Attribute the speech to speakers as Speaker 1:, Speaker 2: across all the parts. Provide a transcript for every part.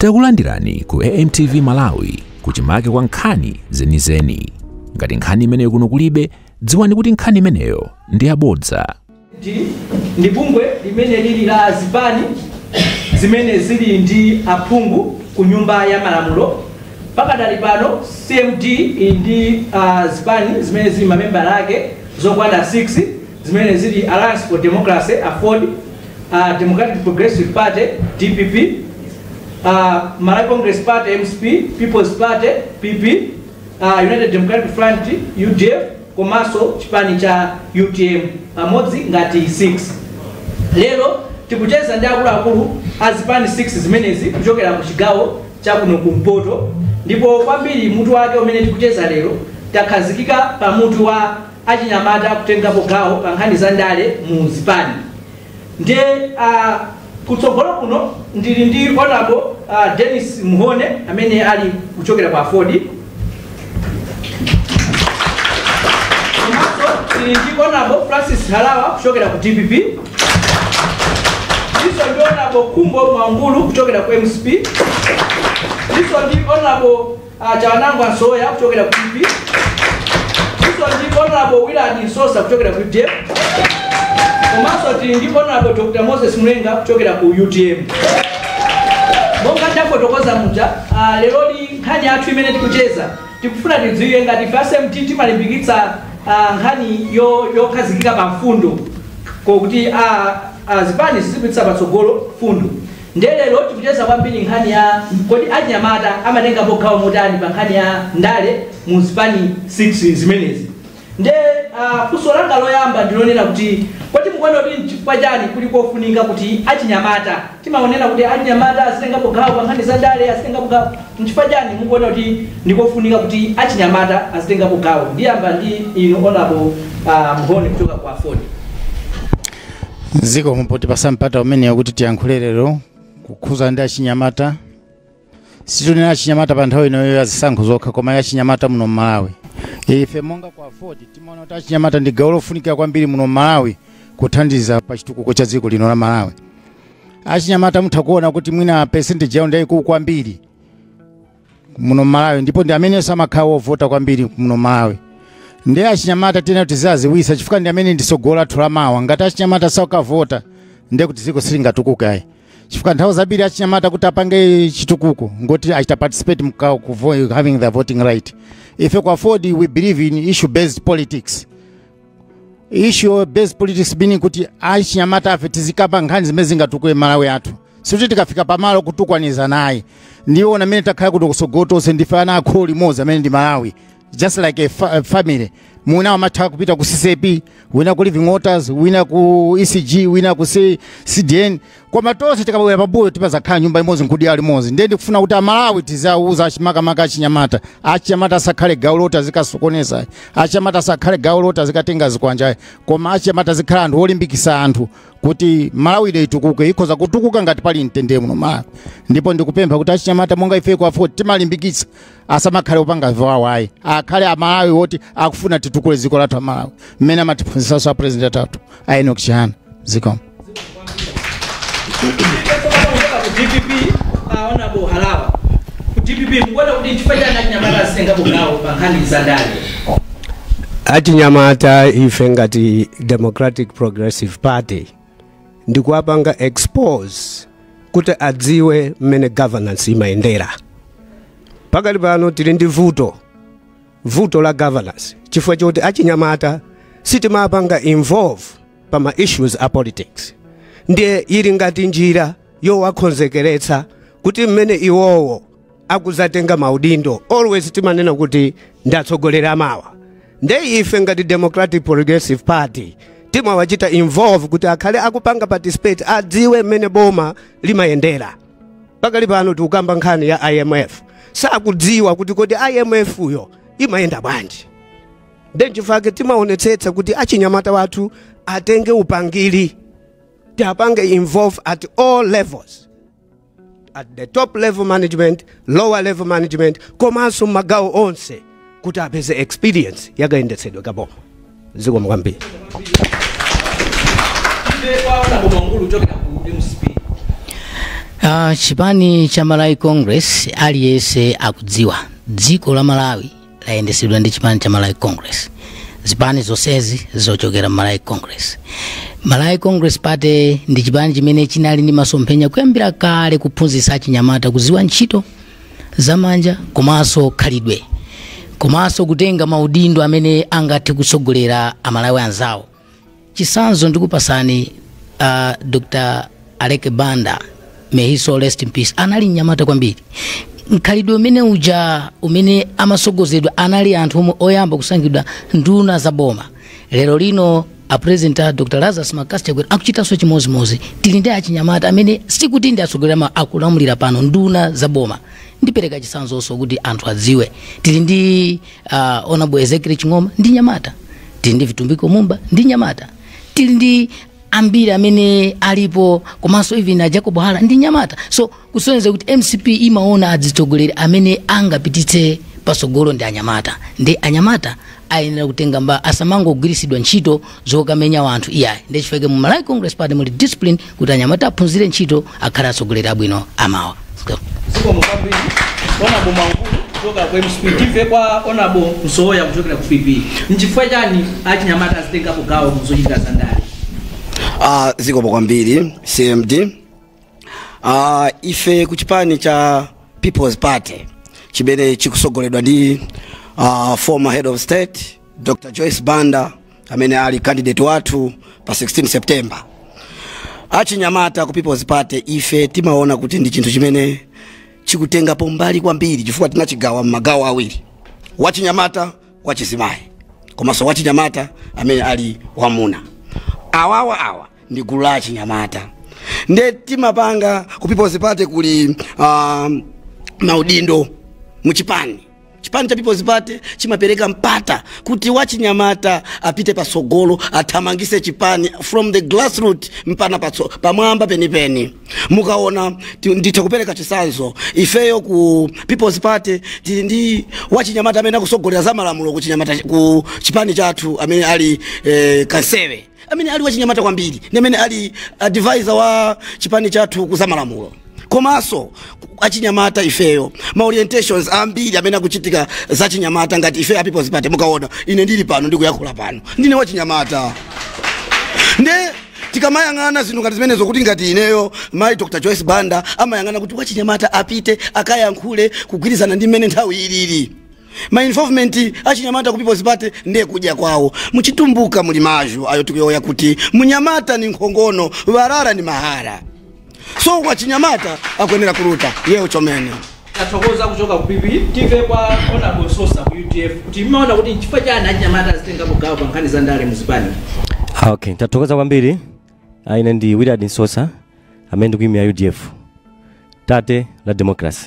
Speaker 1: Takulandirani ku AMTV Malawi kuchimake kwa nkhani zenizeni. Ngati nkhani imeneyo kuno kulibe, dziwani kuti nkhani imeneyo ndi yabodza. ndi
Speaker 2: ndi bungwe limene lili la zipani zimene zili ndi aphungu ku nyumba ya malamulo pakadali pano cmd ili ndi ah, zipani zimene zili mamembala ake zokwana 6 zimene zili Alliance for Democracy, aford, a Democratic Progressive Party, dpp, a Malawi Congress Party, mcp, People's Party, PP, a United Democratic Front, UDF, komanso chipani cha UTM pamodzi ngati 6 lero tikucheza ndi akuluakulu a zipani 6 zimenezi kuchokera ku chigawo cha kuno kumpoto ndipo kwambiri mutu wake umene tikucheza lero takhazikika pa mutu wa achinyamata kutengapo gawo pa nkhani za ndale mu zipani nde a kutsogolo kuno ndili ndi honorable uh, Dennis Muhone amene ali kuchokera kwa aford komanso tili ndi honorable Francis Harawa kuchokera ku DPP ndiso ndi honorable Kumbo Mwangulu kuchokera ku MCP ndiso ndi honorable Chawanangwa Msowoya kuchokera ku PP. Ndiso ndi honorable Willard Nsosa kuchokera ku UDF. Komanso tili ndi honorable Dr. Moses Mlenga kuchokera ku UTM. Monga ndafotokoza muja, ah, leroli nkhani yathu imene tikucheza tikufuna tidziwe ngati ife a CMD timalimbikitsa ah, nkhani yo- yokhazikika pa mfundo kokuti ah, ah, zipani zizipititsa patsogolo mfundo Ndiye lero tikucheza kwambiri nkhani ya kodi achinyamata amatengapo gawo motani pa nkhani ya ndale mu zipani 6 zimenezi. Ndiye uh, funso langa loyamba ndilonena kuti kodi mukuona kuti nchifukwa chani kuli kofunika kuti achinyamata timaonena kuti achinyamata azitengapo gawo pa nkhani za ndale azitengapo gawo nchifukwa chani mukuona kuti ndikofunika kuti achinyamata azitengapo gawo ndiyamba ndi inu honorable uh, mhone kuchoka kwa aford
Speaker 3: zikomo potipasa mpata umenewo kuti tiyankhule lero kukhudza ndi achinyamata situnena achinyamata pa nthawi ino iyi ya zisankho zokha koma ya achinyamata muno mmalawi ife monga kwa aford timaona kuti achinyamata ndi gawo lofunikira kwambiri muno mmalawi kuthandiza pa chitukuko cha dziko lino la malawi achinyamata mutha kuona kuti mwina percentage yawo ndiyayikulu kwambiri muno Malawi ndipo ndi amenenso amakhala wovota kwambiri muno Malawi ndiye achinyamata tiyenera tiziwadziwitsa chifukwa ndi amene ndi tsogolo lathu la mawa ngati achinyamata sakavota ndiye kuti dziko silingatukuke ayi chifukwa nthawi zambiri achinyamata kuti apange chitukuko ngoti achita participate mka kuvo- having their voting right ife kwa aford we believe in issue based politics issue based politics meaning kuti achinyamata afe tizikamba nkhani zimene zingatukule malawi athu sikuti tikafika pamalo kutukwanizana naye ndi ana amene takhala kuti kusogoloku tonse ndife ana a kholo limodzi amene ndi malawi just like a, fa a family wina amatha kupita ku ccap wina ku living waters wina ku ecg wina ku C- cdn koma tonse tikabwera pambuyo timazakhala nyumba imodzi nkudya limodzi ndiye ndikufuna kuti amalawi tizawuza achi makamaka achinyamata achinyamata asakhale gawo loti azikasokoneza achinyamata asakhale gawo loti azikatenga zikwanja koma achinyamata azikhala anthu olimbikisa anthu kuti malawi ino itukuke ikhoza kutukuka ngati pali mtendere muno malawi ndipo ndikupempha kuti achinyamata monga ife ku aford timalimbikitsa asamakhale opanga ziwawa ayi akhale amalawi woti akufuna titukule dziko lathu amalawi mmene amatiphunzisanso a president atatu a enoch chihana zikomo
Speaker 2: dpp honorable halawa ku dpp mukuona kuti chifukwa chani achinyamata azitengapo gawo pa nkhani za ndale
Speaker 4: achinyamata ife ngati democratic progressive party ndikuwapanga expose kuti adziwe mmene governance imayendera pakali pano tili ndi vuto vuto la governance chifukwa choti achinyamata sitimapanga involve pa ma issues a politics ndiye ili ngati njira yowakonzekeretsa kuti mmene iwowo akuzatenga maudindo always timanena kuti ndi atsogoleri amawa nde ife ngati democratic progressive party timawachita involve kuti akhale akupanga participate adziwe mmene boma limayendera pakali pano tikukamba nkhani ya imf sakudziwa kuti kodi imf yo imayenda bwanji nde nchifake timaonetsetsa kuti achinyamata wathu atenge upangiri tiapange involve at all levels at the top level management lower level management komanso mmagawo onse kuti apeze experience yakayendetsedwe kaboma zikomo kwambiri
Speaker 5: Uh, chipani cha malawi congress aliyense akudziwa dziko la malawi layendesedwa ndi chipani cha malawi congress zipani zonsezi zochokera mmalawi congress malawi congress party ndi chipani chimene chinali ndi masomphenya kuyambira kale kuphunzitsa achinyamata kuziwa ntchito zamanja komanso khalidwe komanso kutenga maudindo amene angathe kutsogolera amalawi anzawo chisanzo ndikupasani uh, dr aleke banda may his soul rest in peace anali mnyamata kwambiri mkhalidwe umene uja umene amasogozedwa anali anthu omwe oyamba kusankhidwa nduna za boma lero lino apresident a dr lazarus mccarthy chakwera akuchitanso chimozimozi tili ndi achinyamata amene sikuti ndi atsogoleri amawa akulamulira pano nduna za boma ndipereka chisanzonso kuti anthu adziwe tili ndi uh, honorable Ezekiel Ching'oma ndi nyamata tili ndi vitumbiko mumba ndi nyamata tili ndi ambiri amene alipo komanso even a jacob hara ndi nyamata so kusonyeza kuti mcp imaona adzitsogoleri amene angapititse pasogolo ndi anyamata nde anyamata ayenera kutenga mba asamangogwiritsidwa ntchito zokamenya wanthu iyayi ndiye chifukwa chake mu malawi congress party muli discipline kuti anyamata aphunzire ntchito akhale atsogoleri abwino amawa
Speaker 2: zikomo kwambiri honorable mankulu kuchoka ku mcp timve kwa honorable msowoya kuchokera ku pp nchifukwa chani achinyamata azitengapo gawo mu zochitika za ndale
Speaker 6: Ah, zikomo kwambiri cmd Ah, ife ku chipani cha people's party chimene chikusogoledwa ndi ah, former head of state Dr. Joyce Banda amene ali candidate wathu pa 16 September. Achinyamata ku People's Party ife timaona kuti ndi chinthu chimene chikutengapo mbali kwambiri chifukwa tinachigawa m'magawo awiri, wachinyamata, wachizimayi komanso wachinyamata amene ali wamuna. Awawa awa ndi gulu la achinyamata nde timapanga ku People's Party kuti um, maudindo muchipani chipani cha people's party chimapereka mpata kuti wachinyamata apite patsogolo athamangise chipani from the grassroot mpana patso pamwamba penipeni mukaona ti- nditha kupereka chisanzo ifeyo ku people's party tili ndi wachinyamata amene akusogolera za malamulo ku chinyamata ku chipani chathu amene ali eh, kansewe amene ali wachinyamata kwambiri ndi amene ali advisor wa chipani chathu kuzamalamulo komanso achinyamata ifeyo ma orientations ambiri amene akuchitika za chinyamata ngati ife a people's party mukaona ine ndili pano ndikuyankhula pano ndine wachinyamata nde tikamayang'ana zinthu ngati zimenezo kuti ngati ineyo mayi dr joyce banda amayang'ana kuti wachinyamata apite akayankhule kugwirizana ndi mmene nthawi ilili ma involvement achinyamata ku people's party ndiye kudya kwawo muchitumbuka muli mazgu ayo tikuyowoya kuti munyamata ni nkhongono walala ni mahara so wachinyamata akwenera kuluta yewo chomene tathokoza kuchoka
Speaker 2: ku pp timve kwa honorable nsosa ku udf kuti mmaona kuti nchifukwa chani achinyamata azitengapo gawo pa nkhani za ndale muzipani Ah,
Speaker 7: okay tathokoza kwambiri Ah, ine ndi willard nsosa amene ndikuimira udf tate la democracy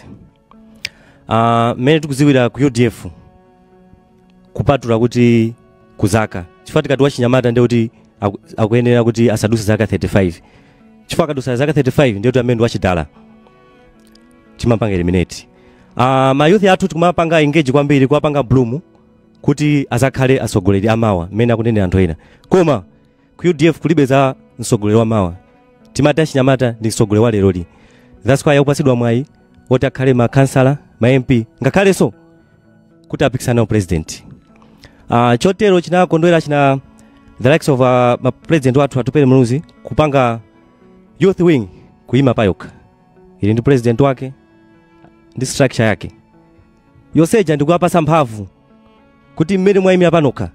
Speaker 7: Ah, mmene tikudziwira ku udf kupatula kuti ku zaka chifukwa tikati wachinyamata ndiye kuti aku- akuyenera kuti asaduse zaka 35 chifukwa akadusa zaka 35 ndiye kuti amene ndi wachidala timapanga eliminate Ah, ma youth athu tikumapanga engage kwambiri kuwapanga groom kuti azakhale atsogoleri amawa mmene akunenera anthu ena koma ku udf kulibe za mtsogoleri wa mawa timati achinyamata ndi mtsogoleri wa leroli that's why akupatsidwa mwayi woti akhale ma kansala ma mp ngakhalenso kuti apikisane nawo president uh, chotero chinakondwera china the likes of uh, ma president wathu atupele muluzi kupanga youth wing kuyima payokha ili ndi president wake ndi structure yake yonse ija ndikuwapasa mphamvu kuti mmene mwayimira panokha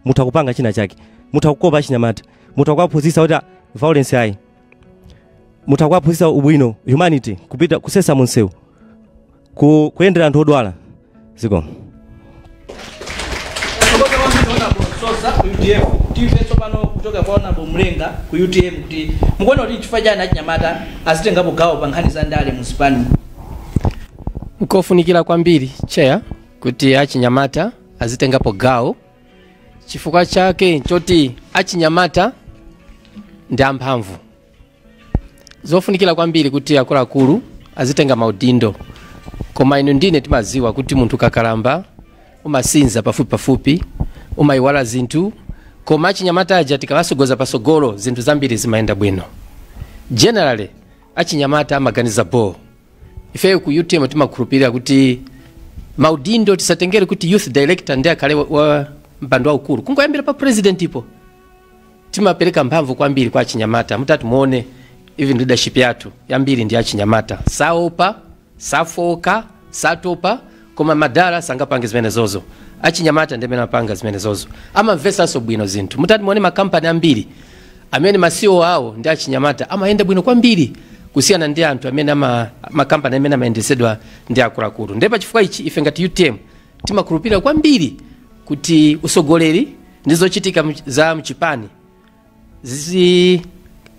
Speaker 7: mutha kupanga china chake mutha kukopa achinyamata mutha kuwaphunzitsa kuti ah, violence ayi mutha kuwaphunzitsa ubwino humanity kupita kusesa munsewu ku, kuyendera anthu odwala zikomo
Speaker 2: Sosa ku UTM timve tsopano kuchoka kwa Honorable Mlenga ku UTM kuti mukuona kuti nchifukwa chani achinyamata azitengapo gawo pa nkhani za ndale mu zipani nkofunikira
Speaker 8: kwambiri chair kuti achinyamata azitengapo gawo chifukwa chake choti achinyamata ndi amphamvu zofunikira kwambiri kuti akuluakulu azitenga maudindo koma inu ndine timaziwa kuti munthu ukakalamba umasinza pafupi pafupi umayiwala zinthu koma achinyamata aja tikawasogoza pasogolo zinthu zambiri zimayenda bwino generally achinyamata amaganiza boo ifeyo ku utm timakhulupirira kuti maudindo tisatengere kuti youth director ndiye akhale wa- wa mpando waukulu kungoyambira pa president ipo timapereka mphamvu kwambiri kwa achinyamata mutati muone even leadership yathu yambiri ndi achinyamata saopa safooka satopa Koma madala sangapange zimenezozo. Achinyamata ndiamene amapanga zimenezozo. Amamvetsanso bwino zinthu. Mutati muone makampani ambiri amene ma CEO awo ndi achinyamata amayenda bwino kwambiri kusiyana ndi anthu amene ama makampani amene amayendetsedwa ndi akuluakulu. Ndiye pachifukwa ichi ife ngati utm timakhulupirira kwambiri kuti usogoleri ndi zochitika za mchipani zi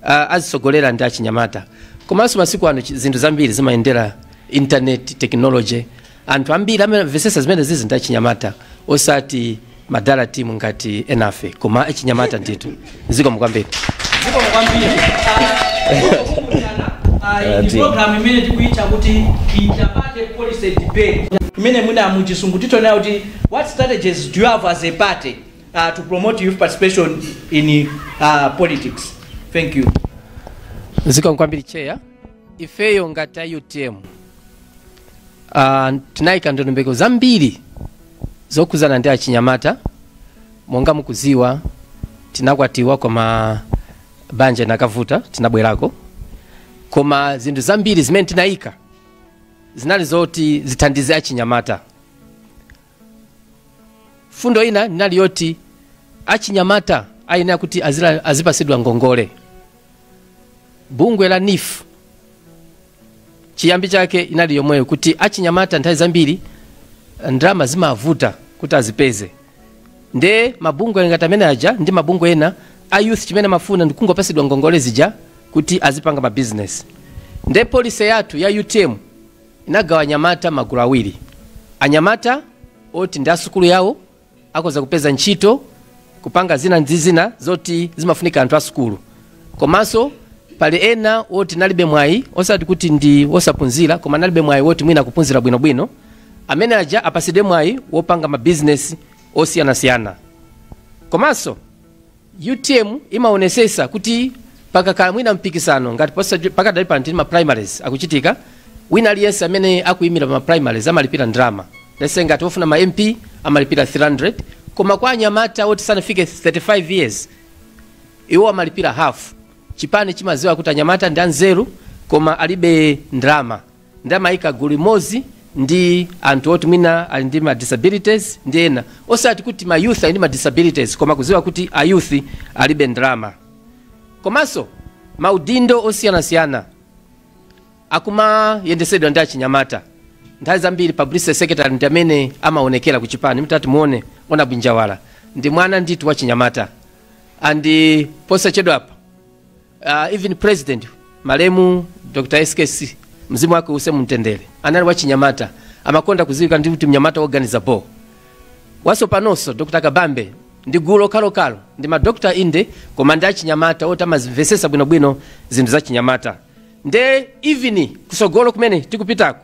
Speaker 8: uh, azitsogolera ndi achinyamata komanso masiku ano chi- zinthu zambiri zimayendera internet technology anthu ambiri amamvesesa zimene zizi ndi achinyamata osati madala team ngati enafe koma achinyamata ndithu zikomo kwambiri zikomo kwambiri Ah, iyi
Speaker 2: program imene tikuitcha kuti interparty policy debate imene mwina mu Chizungu titanena kuti what strategies do you have as a party uh, to promote youth participation in uh, politics. Thank you.
Speaker 8: zikomo kwambiri chair ifeyo ngati a utm uh, tinayika ndondomeko zambiri zokhudzana ndi achinyamata monga mukuziwa tinakwatiwa koma banja inakavuta tinabwerako koma zinthu zambiri zimene tinayika zinali zoti zithandize achinyamata fundo ina inali yoti achinyamata ayenera kuti azila- azipasidwa ngongole bungwe la neef chiyambi chake inali yomweyo kuti achinyamata nthawi zambiri ndalama zimavuta kuti azipeze nde mabungwe ngati amene aja ndi mabungwe ena a youth chimene amafuna ndikungopasidwa ngongole zija kuti azipanga mabizinesi nde polisi yathu ya utm inagawa anyamata m'magulu awiri. Anyamata oti ndi a sukulu yawo akhoza kupeza ntchito, kupanga zina ndi zina zoti zimafunika anthu a sukulu. Komanso pali ena oti analibe mwayi osati kuti ndi osaphunzira koma analibe mwayi woti mwina kuphunzira bwinobwino. Amene aja apatsidwe mwayi wopanga mabizinesi osiyanasiyana. Komanso Utm imaonesesa kuti pakakhala mwina mpikisano ngati pakadali pano tili ma primaries akuchitika wina aliyense amene akuyimira pa ma primaries amalipira ndalama let's say ngati ofuna ma MP amalipira 300 koma kwa anyamata oti sanafike 35 years iwo amalipira half chipani chimaziwa kuti anyamata ndi anzeru koma alibe ndalama nde amayika gulu limodzi ndi anthu oti mwina ali ndi ma disabilities ndi ena osati kuti ma youth ali ndi ma disabilities koma kudziwa kuti a youth alibe ndalama komanso maudindo osiyanasiyana akumayendesedwa ndi achinyamata nthawi zambiri publicity secretary ndi amene amaonekera ku chipani mtati muone ona bwinjawala ndi mwana ndithu wa chinyamata and posachedwapa uh, even president malemu dr skc mzimu wake uuse mumtendere anali wachinyamata amakonda kudziwika ndi kuti mnyamata woganiza bo watsopanonso dr kabambe ndi gulu lokhalokalo ndi madokta inde koma ndi achinyamata oti amazimvesesa bwinobwino zinthu za chinyamata nde even kusogolo kumene tikupitako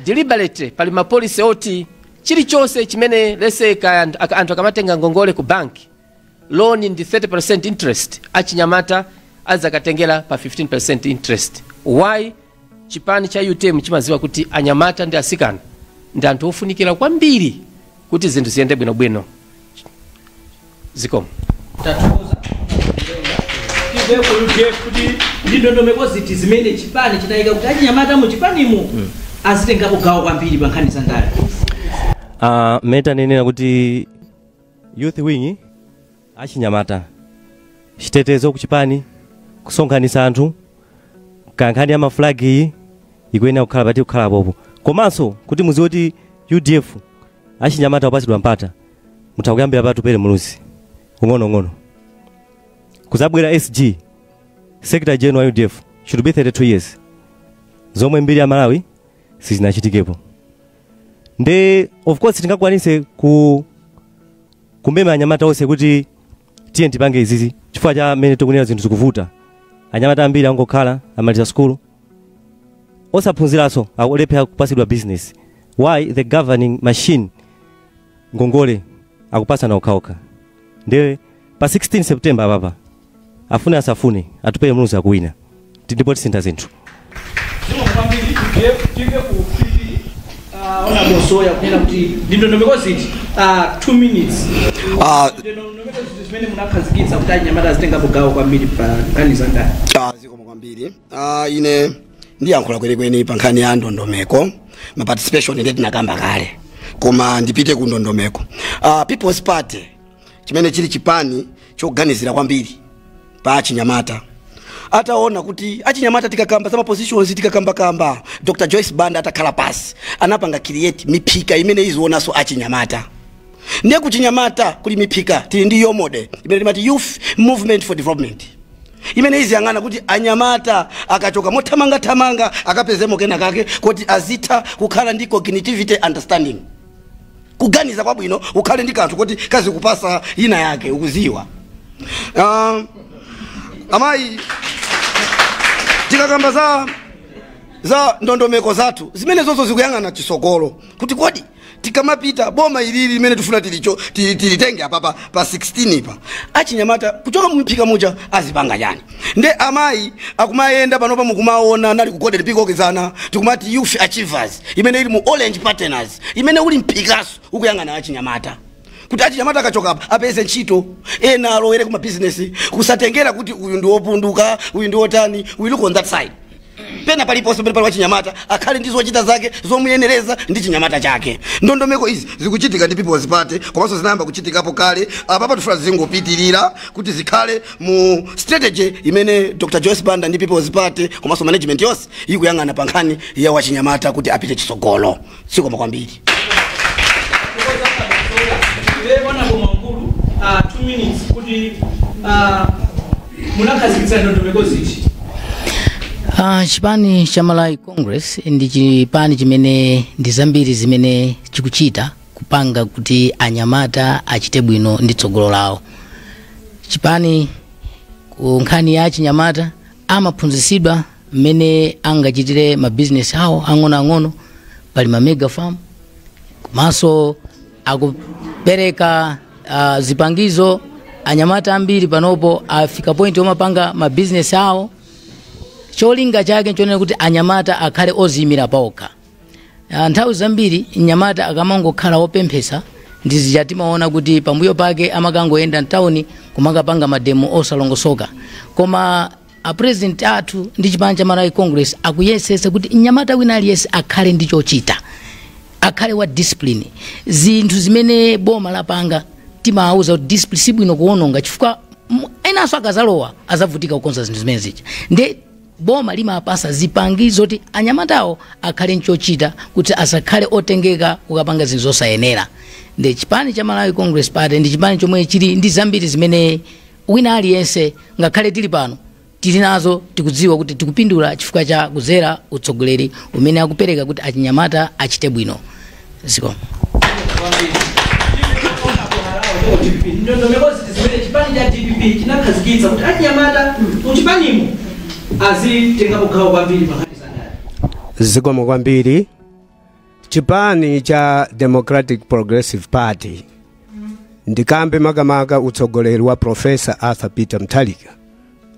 Speaker 8: deliberate pali mapolisi oti chilichonse chimene let's say ka anthu akamatenga ngongole ku banki loan ndi 30% interest achinyamata adzakatengera pa 15% interest why chipani cha utm chimadziwa kuti anyamata ndi asikana ndi anthu ofunikira kwambiri kuti zinthu ziyende bwinobwino
Speaker 2: zikomo kuti ndi ndondomeko ziti zimene chipani chidayika kuti achinyamata mu chipanimu azitengapo gawo kwambiri pa nkhani za ndale Ah,
Speaker 7: mmene tanenera kuti Youth wing, achinyamata, chitetezo kuchipani, kusonkhanitsa anthu, kankhani ya maflag iyi ikuyenera kukhala pati kukhala popo. Komanso kuti muziwe kuti UDF achinyamata amapatsidwa mpata mutha kuyambira pa Atupele Muluzi ung'onoung'ono. Kuzabwera SG Secretary General wa UDF should be 32 years. Zomwe mbiri ya Malawi sizinachitikepo. nde of course tingakwanise kumema anyamata onse kuti tiye tipange izizi chifukwa cha mmene tikunena zinthu zikuvuta anyamata ambiri angokhala amaliza sukulu osaphunziranso akulephera kupasidwa business why the governing machine ngongole akupasana okhaokha nde pa 16 september apapa afune asafune atupere muluzi akuwina Ti- ndipo tisintha
Speaker 2: zinthu honorable Soya kunena kuti ndi ndondomeko ziti ah, two minutes Ah, ndondomeko ziti zimene munakhazikitsa kuti anyamata azitengapo gawo kwambiri pa nkhani za ndale Ah, zikomo
Speaker 6: kwambiri Ah, ine ndiyankhula kwenikweni pa nkhani ya ndondomeko ma participation nde tinakamba kale koma ndipite ku ndondomeko Ah, people's party chimene chili chipani choganizira kwambiri pa achinyamata ataona kuti achinyamata tikakamba za mapositions tikakambakamba dr joyce banda atakhala pasi anapanga create miphika imene izionanso achinyamata ndiye kuchinyamata kuli miphika tili ndi yomode imene timati youth movement for development imene iziyang'ana kuti anyamata akachoka mothamangathamanga akapezemo kena kake kuti azitha kukhala ndi cognitivity understanding kuganiza kwabwino ukhale ndi kanthu koti kazikupasa ina yake ukuziwa uh, amayi tikakamba za za ndondomeko zathu zimenezozo zikuyang'ana chisogolo kuti kodi tikamapita boma ilili limene tikufuna ti- ti- tilitenge apapa pa 16 pa achinyamata kuchoka mumphika muja azipanga chani nde amayi akumayenda panopa mukumaona analiku Goliati pikokezana tikumati youth achievers imene ili mu orange partners imene uli mphikaso ukuyang'ana achinyamata kuti achinyamata akachoka apa apeze ntchito ena alowere ku mabizinesi kusatengera kuti uyu ndi wopunduka uyu ndi wotani we look on that side pena paliponse pamene pali wachinyamata akhale ndi zochita zake zomuyenereza ndi chinyamata chake ndondomeko izi zikuchitika ndi people's party komanso zinayamba kuchitikapo kale apapa tifuna zingopitirira kuti zikhale mu strategy imene dr joyce banda ndi people's party komanso management yonse ikuyang'ana pa nkhani ya wachinyamata kuti apite chitsogolo zikomo kwambiri Honorable Bwamagulu, ah, two
Speaker 2: minutes kuti ah, munakhazikitsa ndondomeko ziti Ah, chipani
Speaker 5: cha malawi congress ndi chipani chimene ndi zambiri zimene chikuchita kupanga kuti anyamata achite bwino ndi tsogolo lawo chipani ku nkhani ya achinyamata amaphunzisidwa mmene angachitire mabizinesi awo ang'onoang'ono pali ma mega farm komanso akupereka uh, zipangizo anyamata ambiri panopo afika point omapanga mabizinesi awo cholinga chake nchonena kuti anyamata akhale oziyimira paokha Ah, nthawi zambiri mnyamata akamangokhala wopemphesa ndi uja timaona kuti pambuyo pake amakangoyenda mtawuni kumakapanga mademo osalongosoka koma a president athu ndi chipani cha malawi congress akuyesesa kuti mnyamata wina aliyense akhale ndi chochita akhale wa discipline zinthu zimene boma lapanga timawauza kuti discipline sibwino kuononga chifukwa m- enanso akazalowa azavutika kukonza zinthu zimene zija nde boma limapasa zipangizo zoti anyamatawo akhale nchochita kuti asakhale otengeka kukapanga zinthu zosayenera nde chipani cha malawi congress party ndi chipani chomwe chili ndi zambiri zimene wina aliyense ngakhale tili pano tili nazo tikudziwa kuti tikupindula chifukwa cha kudzera utsogoleri umene akupereka kuti achinyamata achite bwino zikomo
Speaker 2: ndondomeko ziti zimene chipani cha dpp chinakhazikitsa kuti achinyamata muchipanimo azitengapo gawo kwambiri pa nkhani za ndale zikomo
Speaker 4: kwambiri chipani cha democratic progressive party ndikambe makamaka utsogoleri wa profesa arthur peter mutharika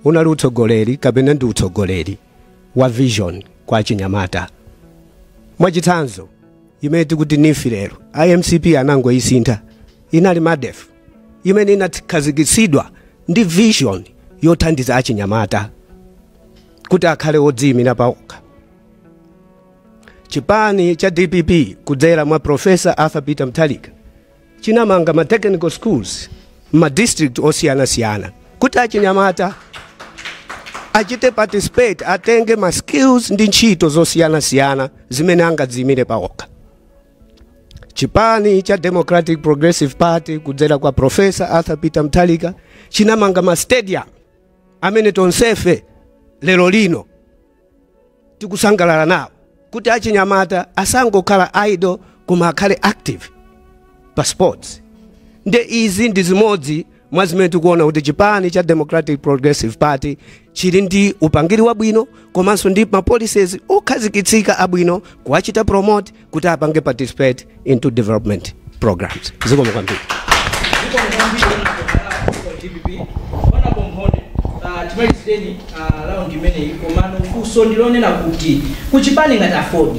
Speaker 4: unali utsogoleri kapena ndi utsogoleri wa vision kwa achinyamata mwachitsanzo imene tikuti neef lero mcp anangoyisintha inali medf imene inakhazikitsidwa ndi vision yothandiza achinyamata kuti akhale odziyimira paokha chipani cha dpp kudzera mwa profesa arthur peter mutharika chinamanga ma technical schools m'ma district osiyanasiyana kuti achinyamata achite participate atenge ma skills ndi ntchito zosiyanasiyana zimene angadziyimire pawokha chipani cha democratic progressive party kudzera kwa profesa arthur peter mutharika chinamanga ma stadium amene tonsefe lero lino tikusangalala nawo kuti achinyamata asangokhala idle koma akhale active pa sports nde izi ndi zimodzi mwa zimene tikuona kuti chipani cha democratic progressive party chili ndi upangiri wabwino komanso ndi ma policies okhazikitsika abwino kuwachita promote kuti apange participate into development programs zikomo kwambiri timalizire raundi
Speaker 2: imeneyi komano funso ndilonena kuti kuchipani ngati aford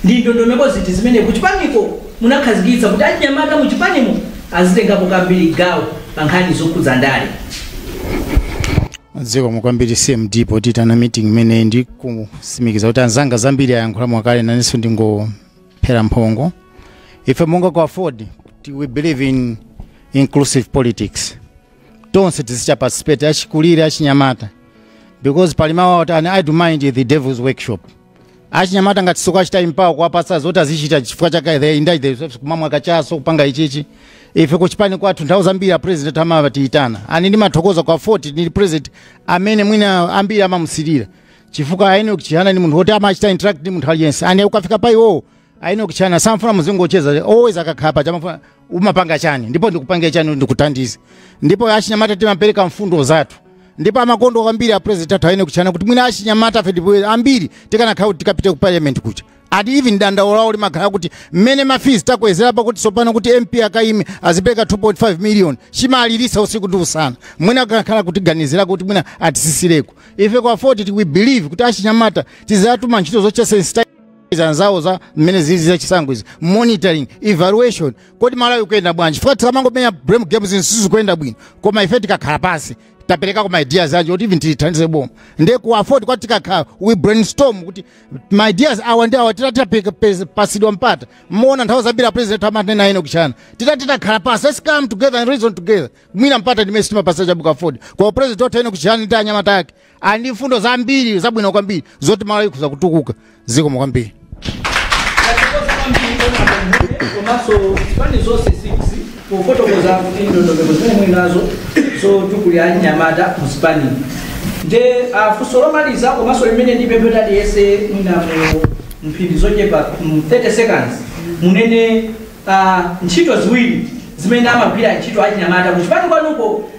Speaker 2: ndi ndondomeko ziti zimene kuchipaniko munakhazikitsa kuti achinyamata muchipanimo azitengapo kwambiri gawo pa nkhani zokhudza ndale
Speaker 3: zikomo kwambiri cmd poyitana meeting imeneyi ndi kusimikiza kuti anzanga zambiri ayankhula mwakale nanenso ndingophera mphongo ife monga ku aford we believe in inclusive politics tonse tizichita participate achikulire achinyamata because pali mawu awo ati an idle mind the devil's workshop achinyamata ngati sitikuwachita empower kuwapasa zoti azichita chifukwa chake they indulge kumamwa kachaso kupanga ichichi ife kuchipani kwathu nthawi zambiri a president amatiyitana and ndimathokoza kwa aford ndi president amene mwina ambiri amamusilira chifukwa a enoch chihana ndi munthu woti amachita interact ndi munthu aliyense and ukafika pa iwowo a enoch chihana samfuna muzingocheza always akakhalapo amafuna umapanga chani ndipo ndikupangire chani ndikuthandize ndipo achinyamata timapereka mfundo zathu ndipo amakonda kwambiri a president athu a enoch chihana kuti mwina achinyamatafe ndipo ambiri tikanakhala kuti tikapite ku parliament kuja and even dandaulo lawo limakhala kuti mmene ma fees takwezera pakuti tsopano kuti mp akaime azipereka 2.5 million chimawaliritsa usiku ndi usana mwina akanakhala kutiganizira kuti mwina atitsitsireko ife kwa aford ti- we believe kuti achinyamata tizawatuma ntchito zochita sensitize anzawo za mmene zili za chisankho izi monitoring evaluation kodi malawi akuyenda bwanji fuka tikamangomenya blame games zinthu sizikuyenda bwino koma ife tikakhala pansi taperekako ma ideas athu kuti even tithandize boma nde ku aford kwathu tikakhala we brainstorm kuti ma ideas awa ndi awa titati tapeka- pes- pasidwa mpata mmuona nthawi zambiri apresident amanena enoch chihana titati takhala pansi let's come together and reason together mwina mpata ndimene sitimapatsa chabe ku aford kwa a president athu enoch chihana ndi anyamata ake ali ndi mfundo zambiri zabwino kwambiri zoti malawi ikhoza kutukuka zikomo kwambiri komanso
Speaker 2: zipani zonse 6 pofotokoza kuti ndondomeko zimene muli nazo zotukulira anyamata muzipani nde funso lomaliza komanso limene ndipemphe kuti aliyense mwina mu mphindi zochepa mu 30 seconds munene ah, ntchito ziwiri zimene amagwira ntchito achinyamata kuchipani kwanuko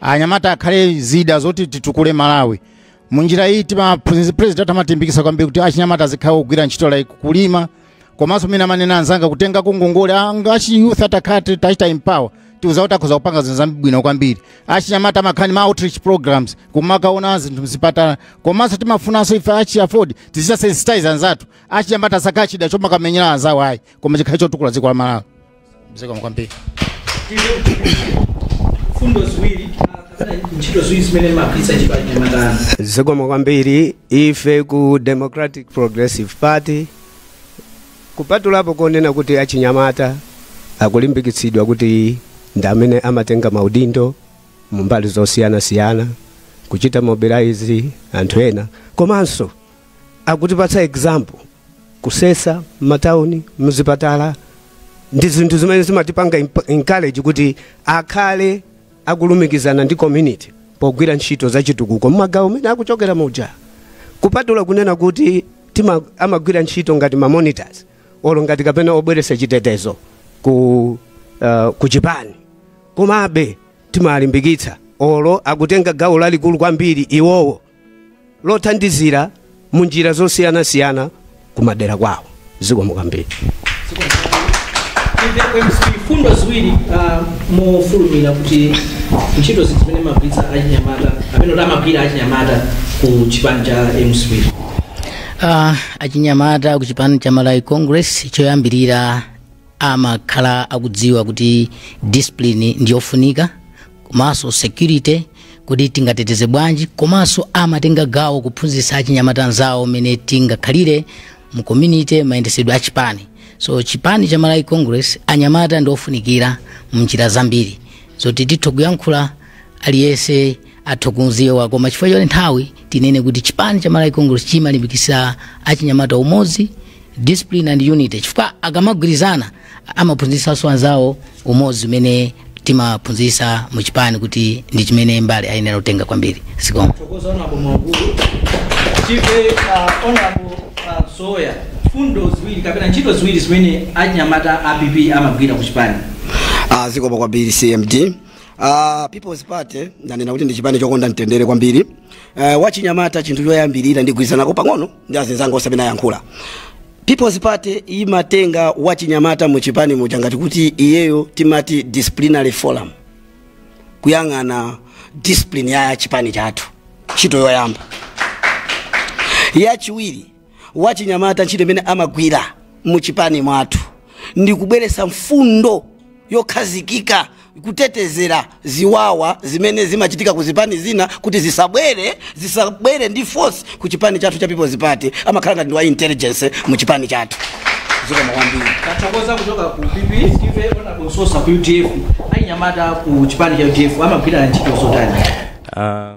Speaker 3: anyamata akhale zida zoti titukule malawi munjira iyi timaphunzitsi president amatimbikisa kwambiri kuti achinyamata azikhala ogwira ntchito like kulima komanso mene amanena anzanga kutengako ngongole ngati achi youth atakhala ti- tachita empower tidziwa kuti akhoza kupanga zinthu zabwino kwambiri achinyamata amakhala ndi ma outreach programs kumakaona zinthu mzipatala komanso timafunanso ife achi aford tizichita sensitize anzathu achinyamata asakhala chida chomakamenyera anzawo ayi koma chikhale chotukula dziko la malawi zikomo
Speaker 2: kwambiri mfundo ziwiri kapena ntchito ziwiri zimene mumagwiritsa ntchito achinyamata zikomo kwambiri
Speaker 4: ife ku democratic progressive party kupatulapo konena kuti achinyamata akulimbikitsidwa kuti ndi amene amatenga maudindo mumbali zosiyanasiyana kuchita mobilize anthu ena komanso akutipatsa example kusesa m'matauni mzipatala ndi zinthu zimene zimatipanga imp- encourage kuti akhale akulumikizana ndi community pogwira ntchito za chitukuko mmagawo mene akuchokera muja kupatula kunena kuti tima, amagwira ntchito ngati ma monitors olo ngati kapena obweresa chitetezo ku, uh, ku chipani komabe timalimbikitsa olo akutenga gawo lalikulu kwambiri iwowo lothandizira mu njira zosiyanasiyana ku madera kwawo zikomo kwambiri
Speaker 2: fundo ziwiri ah, mofulumira kuti ntchito zinthu zimene amagwiritsa achinyamata amene kuti amagwira achinyamata ku chipani cha mcp Ah, achinyamata
Speaker 5: ku chipani cha malawi congress choyambirira amakhala akudziwa kuti discipline ndiyofunika komanso security kuti tingateteze bwanji komanso amatenga gawo kuphunzitsa achinyamata anzawo mmene tingakhalire mu community mayendesedwe a chipani so chipani cha malawi congress anyamata ndi ofunikira mu njira zambiri zoti titha kuyankhula aliyense atha kudziwa koma chifukwa choti nthawi tinene kuti chipani cha malawi congress chimalimbikitsa achinyamata umodzi discipline and unity chifukwa akamagwirizana amaphunzitsanso anzawo umodzi umene timaphunzitsa mu chipani kuti ndi chimene mbali ayenera kutenga kwambiri zikomo tive honorable
Speaker 2: soya fundo ziwiri kapena ntchito ziwiri zimene anyamata a pp amagwira ku chipani Ah,
Speaker 6: zikomo kwambiri cmd Ah, people's party ndanena kuti ndi chipani chokonda mtendere kwambiri Eh, wachinyamata chinthu choyambirira ndigwirizanako pang'ono ndi azinzanga onse amene ayankhula people's party imatenga wachinyamata mu chipani muja ngati kuti iyeyo timati disciplinary forum kuyang'ana discipline ya chipani chathu ntchito yoyamba yachiwiri wachinyamata ntchito imene amagwira mu chipani mwathu ndi kubweretsa mfundo yokhazikika kutetezera ziwawa zimene zimachitika ku zipani zina kuti zisabwere zisabwere ndi force ku chipani chathu cha People's Party amakhala ngati ndi wa intelligence mu chipani chathu zikomo kwambiri tathokoza kuchoka
Speaker 2: ku pp tive honorable sosa ku udf achinyamata ku chipani cha udf amagwira ntchito zotani Ah,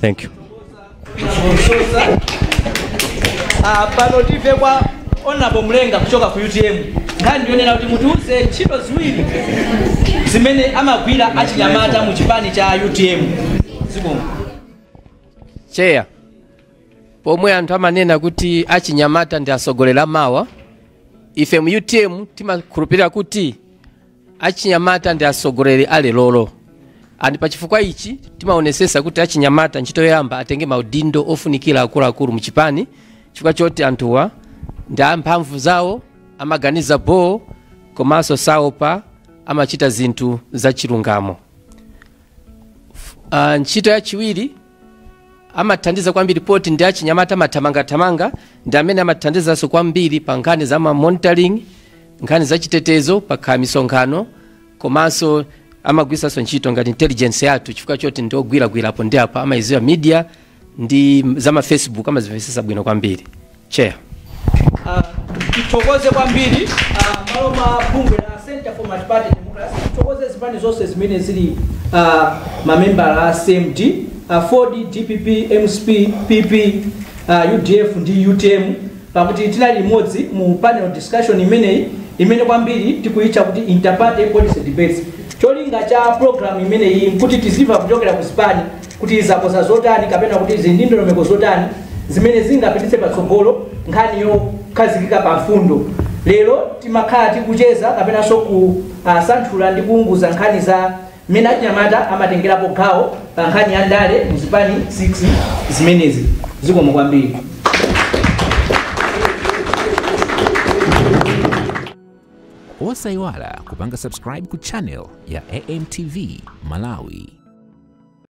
Speaker 7: thank you
Speaker 2: Ah, pano tive kwa honorable mlenga kuchoka ku utm nkhani ndiyonena kuti mutiuze ntchito ziwiri zimene amagwira achinyamata mu chipani cha utm zikomo
Speaker 8: cheya pomwe anthu amanena kuti achinyamata ndi atsogoleri amawa ife mu utm timakhulupirira kuti achinyamata ndi atsogoleri a lerolo and pachifukwa ichi timaonesesa kuti achinyamata ntchito yoyamba atenge maudindo ofunikira akuluakulu mchipani chifukwa choti anthuwa ndi amphamvu zawo amaganiza boo komanso saopa amachita zinthu zachilungamo F- ah, ntchito yachiwiri amathandiza kwambiri poti ndi achinyamata amathamangathamanga ndi amene amathandizanso kwambiri pa nkhani za ma monitoring nkhani za chitetezo pakhala misonkhano komanso amagwiritsanso ntchito ngati intelligence yathu chifukwa choti ndi ogwiragwirapo ndi apa amayidziwa media ndi za ma facebook amazimvetsetsa bwino kwambiri chair Ah,
Speaker 2: tithokoze kwambiri ah, mmalo mwa bungwe la center for multiparty democracy tithokoze zipani zonse zimene zili ah, mamembala a cmd aford dpp mcp pp ah, udf ndi utm pakuti tinali limodzi mu panel discussion imeneyi imene kwambiri tikuyitcha kuti interparty policy debates cholinga cha program imeneyi nkuti tizimva kuchokera ku zipani kuti zakonza zotani kapena kuti zili ndi ndondomeko zotani zimene zingapititse patsogolo nkhani yokhazikika pa mfundo lero timakhala tikucheza kapenanso kusanthula ndi kuunguza nkhani za mmene achinyamata amatengerapo gawo pa nkhani ya ndale mu zipani 6 zimenezi zikomo
Speaker 1: kwambiri osayiwala kupanga subscribe ku channel ya amtv malawi